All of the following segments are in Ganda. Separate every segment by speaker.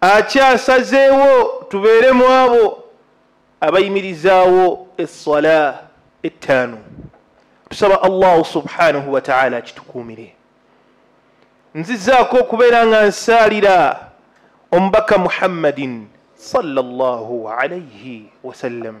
Speaker 1: akyasazeewo tubeere mu abo abayimirizaawo essala ettaano tusaba allahu subhanahu wataala akitukuumire nzizaako okubeera nga nsaalira omubaka muhammadin sallallahu alaihi wasallam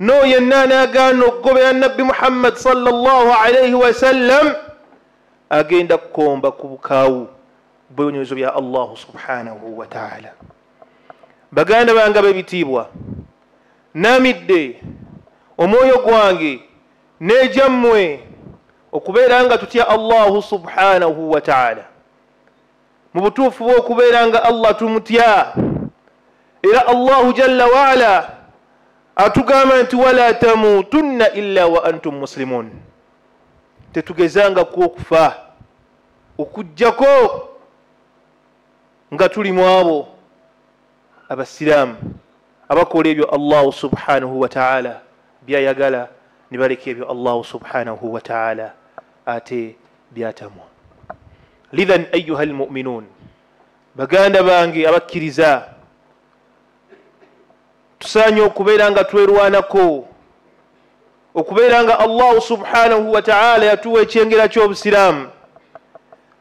Speaker 1: n'oyo yenna anaagaana okugobera nabbi muhammadi salllahu alaihi wasallam agenda kukomba ku bukaawu bwebinyezo bya allahu subhanahu wataala baganda bange bebitiibwa namidde omwoyo gwange nejammwe okubeera nga tutya allahu subhanahu wataala mu butuufu bw'okubeera nga allah tumutya era allahu jalla waala atugamba nti wala tamutunna illa wa antum musilimun tetugezangako okufa okugjako nga tuli mu abo abasiraamu abakola ebyo allahu subhanahu wataala byayagala nibaleka ebyo allahu subhanahu wataala ate byatamwa lidhan ayuha almuminuun baganda bange abakkiriza tusaanye okubeera nga twerwanako okubeera nga allahu subhanahu wataala yatuwa ekyengera ky'obusiraamu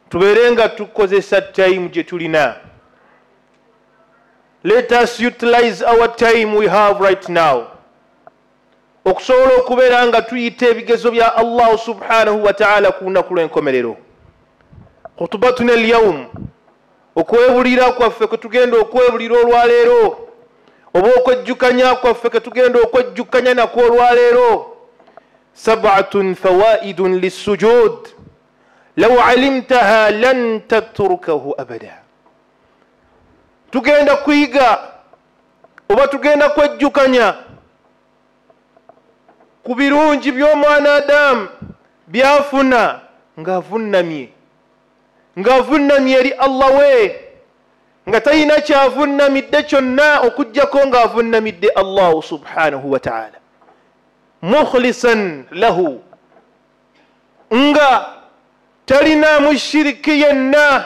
Speaker 1: tubeere nga tukozesa tayimu gye tulina let us utilize our time we have right now okusobola okubeera nga tuyita ebigezo bya allahu subhanahu wataala ku lunaku lw'enkomerero khutubatuna elyaumu okwebulira kwaffe kwe tugenda okwebulira olwaleero oba okwejjukanya kwaffe ke tugenda okwejjukanya nakwo olwaleero sabatun fawaidun lissujud law alimtaha lan tatrukahu abada tugenda kuyiga oba tugenda kwejjukanya ku birungi by'omwana adamu byafuna ng'avunnamye ng'avunnamye eri allah we nga talina kyavunnamidde kyonna okugjako ng'avunnamidde allahu subhanahu wataala mukhlisan lahu nga talinaamu shiriki yenna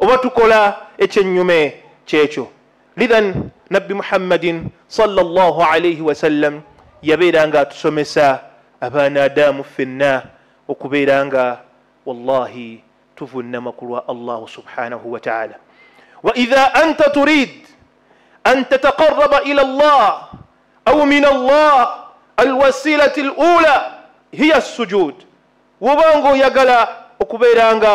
Speaker 1: oba tukola ekyennyume kyekyo lithan nabbi muhammadin salllah alaihi wasallam yabeera nga atusomesa abaana adamu ffenna okubeera nga wallahi tuvunnama ku lwa allahu subhanahu wataala waidha anta turid an tataqaraba ila llah au min allah alwasilati lula hiya sujud wobanga oyagala okubeera nga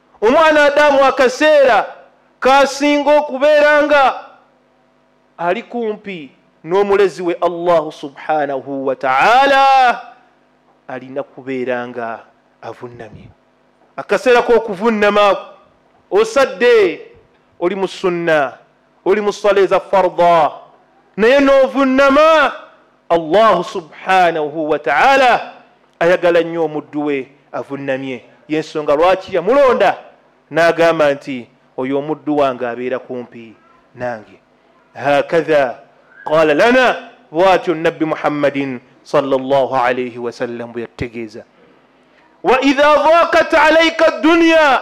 Speaker 1: omwana adamu akaseera kasinga okubeera nga ali kumpi n'omulezi we allahu subhanahu wataala alina kubeera nga avunnamye akaseera k'okuvunnamaako osadde oli mu sunna oli mu sala eza farda naye n'ovunnama allahu subhanahu wataala ayagala nnyo omuddu we avunnamye yensonga lwaki yamulonda n'agamba nti oyo omuddu wange abeera kumpi nange hakatha qala lana bwatyo nabbi muhammadin salllah alaihi wasallam bwe yatutegeeza waidha dhakat alaika dduniya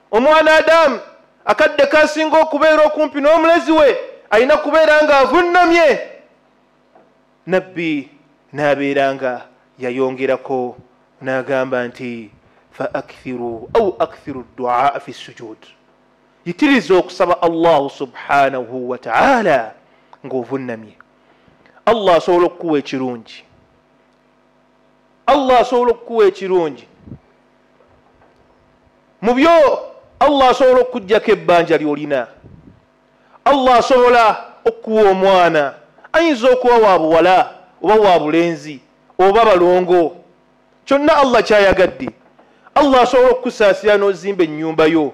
Speaker 1: omwana adamu akadde kasinga okubeera okumpi n'omulezi we alina kubeera nga avunnamye nabbi n'abeera nga yayongerako n'agamba nti fa akthiru au akthiru duaa fi sujud yitiriza okusaba allahu subhanahu wataala ng'ovunnamye allah asobola okukuwa ekirungi allah asobola okukuwa ekirungi mu byo allah asobola okukujjako ebbanja lyolina allah asobola okukuwa omwana ayinza okuwa wa buwala oba wa bulenzi oba balongo kyonna allah kyayagadde allah asobola okukusaasira n'ozimba ennyumba yo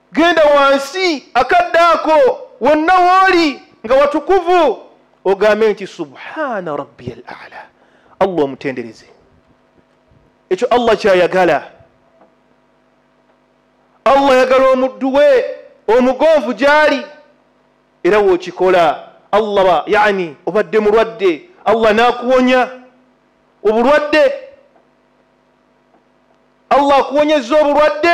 Speaker 1: genda wansi akadde ako wonna wooli nga watukuvu ogambe nti subhana rabbi al ala allah omutendereze ekyo allah kyayagala allah yagala omuddu we omugonvu gyali era wokikola allah yani obadde mulwadde allah nakuwonya obulwadde allah akuwonyeza obulwadde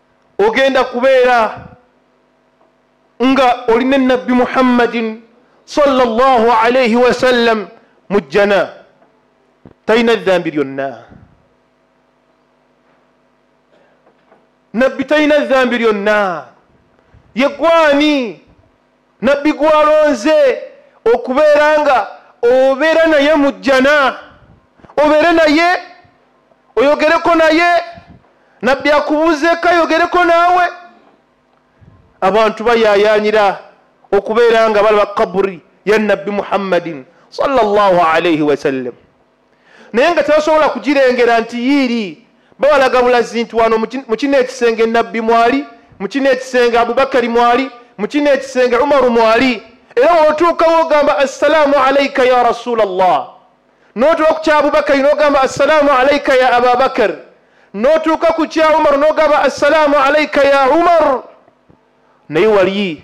Speaker 1: ogenda kubeera nga oli ne nabbi muhammadin salllah alaihi wasallam mu jjana talina dhambi lyonna nabbi talina dhambi lyonna yegwani Nabbi gw'alonze okubeera nga obeera naye mu jjana obeere naye oyogereko naye nabbi akubuuzeeko ayogereko naawe abantu bayayaanira okubeera nga balaba kaburi ya nabbi muhammadin salllah alaihi wasallam naye nga tebasobola kugirengera nti yiiri babalaga bulazi nti wano mu kino ekisenge nabbi mwali mu kino ekisenge abubakari mwali mu kino ekisenge umaru mwali era wotuukawo ogamba assalaamu alaika ya rasula llah notuuka ku kyabubakari nogamba assalaamu alaika ya ababakar notuuka ku kya umaru nogamba assalaamu alaika ya umaru naye waliyi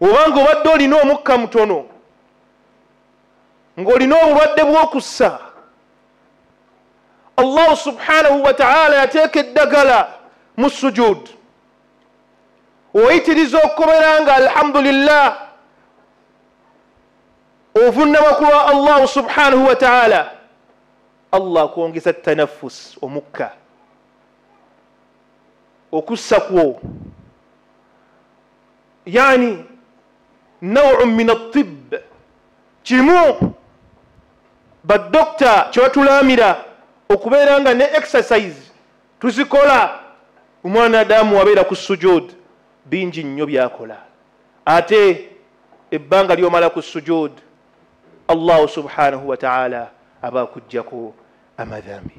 Speaker 1: oba nga obadde olina omukka mutono ng'olina obulwadde bw'okussa allahu subhanahu wataala yateeka eddagala mu sujud oyitiriza okukobera nga alhamdulillah ovunnama ku lwa allahu subhanahu wataala allah akwongeza tanafus omukka okussa kwo yani nawu min atib kimu badokita kyebatulaamira okubeera nga ne exercise tuzikola omwana adamu wabeera ku sujud bingi nnyo byakola ate ebbanga lyomala ku sujud allahu subhanahu wataala aba akuggyako amadhambi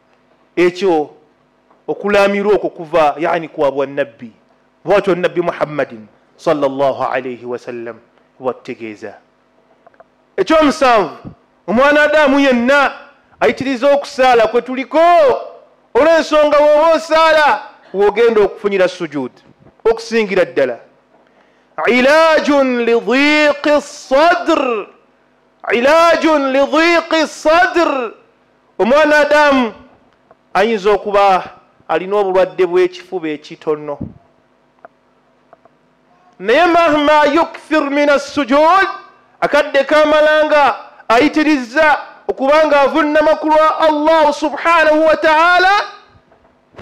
Speaker 1: ekyo okulaamira okwo kuva yani kwa bwannabbi bwatyo nabbi muhammadin salllahalaihi wasallam bwatutegeeza ekyomusanvu omwana adamu yenna ayitiriza okusaala kwe tuliko olw'ensonga woba osaala wogenda okufunira sujud okusingira ddala ilaajun lidiiqi sadr ilaajun lidiiqi sadr omwana adamu ayinza okuba alina obulwadde bw'ekifuba ekitono naye mahma yukthir min assujud akadde kamalanga ayitirizza okubanga avunnama ku lwa allah subhanahu wataala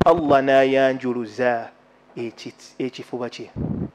Speaker 1: allah nayanjuluza ekifuba kye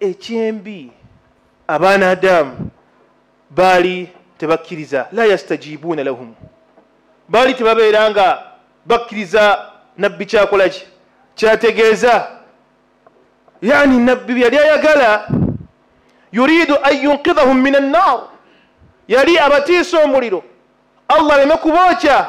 Speaker 1: ekyembi abaana adamu baali tebakkiriza la yastajibuuna lahum baali tebabeera nga bakkiriza nabbi kyakolaki kyategeeza yani nabbi byeyali ayagala yuridu an yunkidhahum min annar yali abatiisa omuliro allah aleme kubookya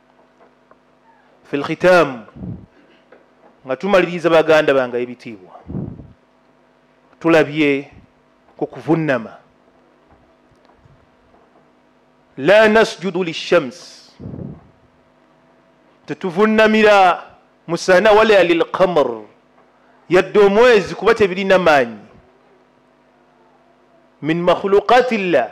Speaker 1: fi lkhitaamu nga tumaliriza baganda bange ebitiibwa tulabye ku kuvunnama la nasjudu lishams tetuvunnamira musana wala lilkamr yadde omwezi kuba tebirina maanyi min makhuluqati llah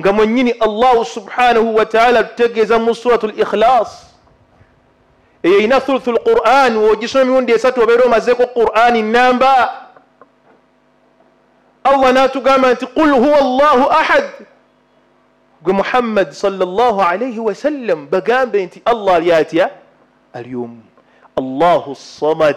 Speaker 1: nga mwennyini allahu subhanahu wataala tutegeeza mu surat l ikhlas eyo erina thuluthu lquran wogisoma emirundi esatu obeera omazeeko qurani namba allah natugamba nti qul huwa llahu ahad gwe muhammadi salllah alaihi wasallam bagambe nti allah ali atya ali omu allahu samad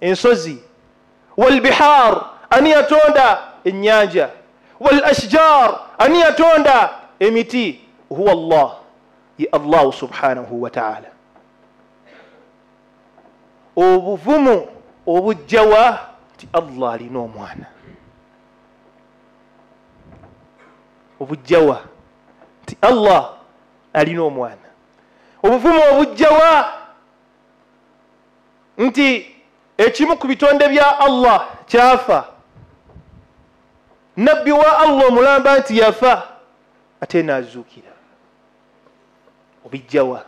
Speaker 1: ensozi walbihar ani yatonda ennyanja wal ashjar ani yatonda emiti huwa llah ye allahu subhanahu wataala obuvumu obujjawa nti allah alina omwana obujjawa nti allah alina omwana obuvumu obujjawa nti ekimu ku bitonde bya allah kyafa nabbi wa allah omulamba nti yafa ate nazuukira obijjawa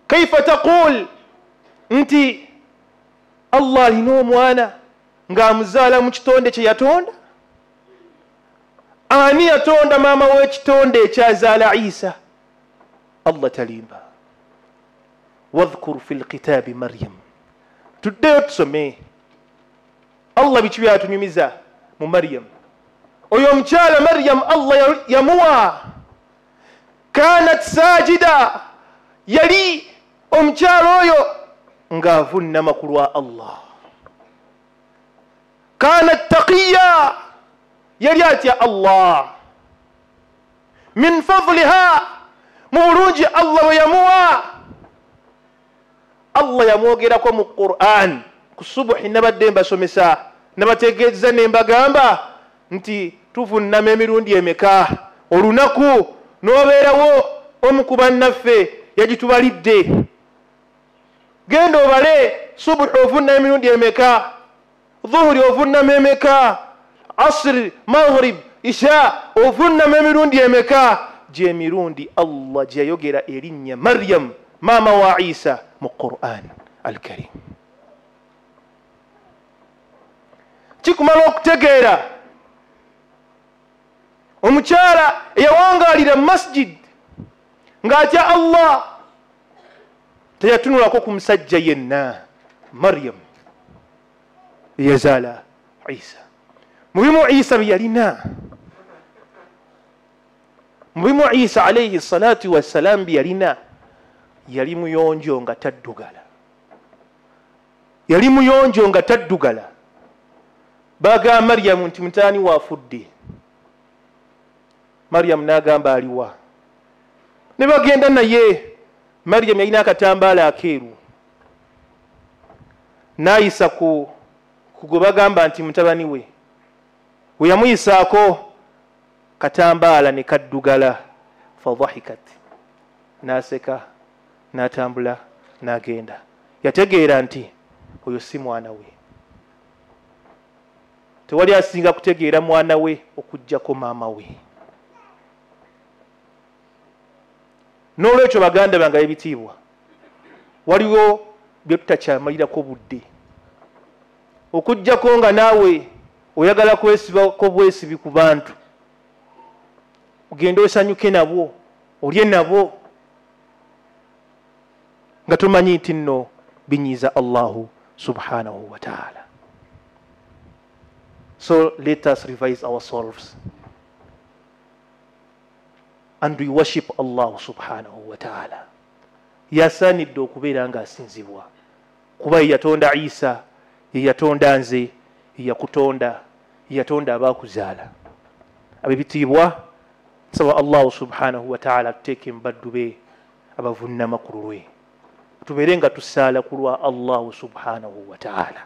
Speaker 1: kaifa taqul nti allah alina omwana ng'amuzaala mu kitonde kye yatonda ani yatonda maama w'ekitonde ekyazaala isa allah talimba wadhkur fi lkitaabi maryam tuddeyo tusome allah biki byatunyumiza mu maryam oyo omukyala maryam allah yamuwa kanat sajida yali omukyala oyo ng'avunnama ku lwa allah kanat taqiya yali atya allah min fadliha mu bulungi allah bwe yamuwa allah yamwogerako mu quran ku subuhi nabadde mbasomesa nabategeeza nembagamba nti tuvunnama emirundi emeka olunaku n'obeerawo omu ku bannaffe yagitubalidde genda obale subuhi ovunnama emirundi emeka dhuhuri ovunnama emeka asiri maghrib isha ovunnama emirundi emeka gyemirundi allah gyeyayogera erinnya maryamu maama wa isa mu quran alkarim kikumala okutegeera omukyala eyawangalira masjid ng'atya allah teyatunulako ku musajja yenna mariyamu eyazaala isa mu bimu isa bye yalina mu bimu isa alaihi salatu wassalaamu bye yalina yali muyonjo nga taddugala yali muyonjo nga taddugala baga mariyamu nti mutaani waafudde mariyamu n'agamba aliwa ne bagenda naye mariyamu yalina akatambaala akeeru n'ayisa ku gwe bagamba nti mutabani we we yamuyisaako katambaala ne kaddugala fadhahikat n'aseka n'atambula n'agenda yategeera nti oyo si mwana we tewali asinga kutegeera mwana we okujjako maama we n'olwekyo baganda bange ebitiibwa waliwo bye tutakyamalirako budde okujjako nga naawe oyagala kwesibako bwesibi ku bantu ogende osanyuke nabwo olye nabwo nga tumanyi nti nno binyiiza allahu subhanahu wataala so let us revise ourselves and we worship allahu subhanahu wataala yasaanidde okubeera nga asinzibwa kuba yeyatonda isa yeyatonda nze yeyakutonda yeyatonda abaakuzaala abebitiibwa nsaba allahu subhanahu wataala tuteeke mubaddu be abavunnama ku lulwe tubeere nga tusaala ku lwa allahu subhanahu wataala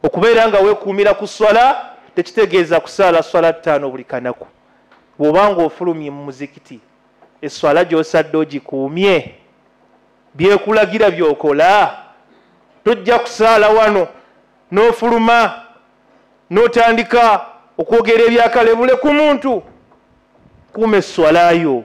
Speaker 1: okubeera nga wekuumira ku swala tekitegeeza kusaala swala ttaano buli kanaku bwobanga ofulumye mu muzikiti eswala gyosadde ogikuumye byekulagira byokola tojja kusaala wano n'ofuluma n'otandika okwogera ebyakalebule ku muntu kuuma eswalayo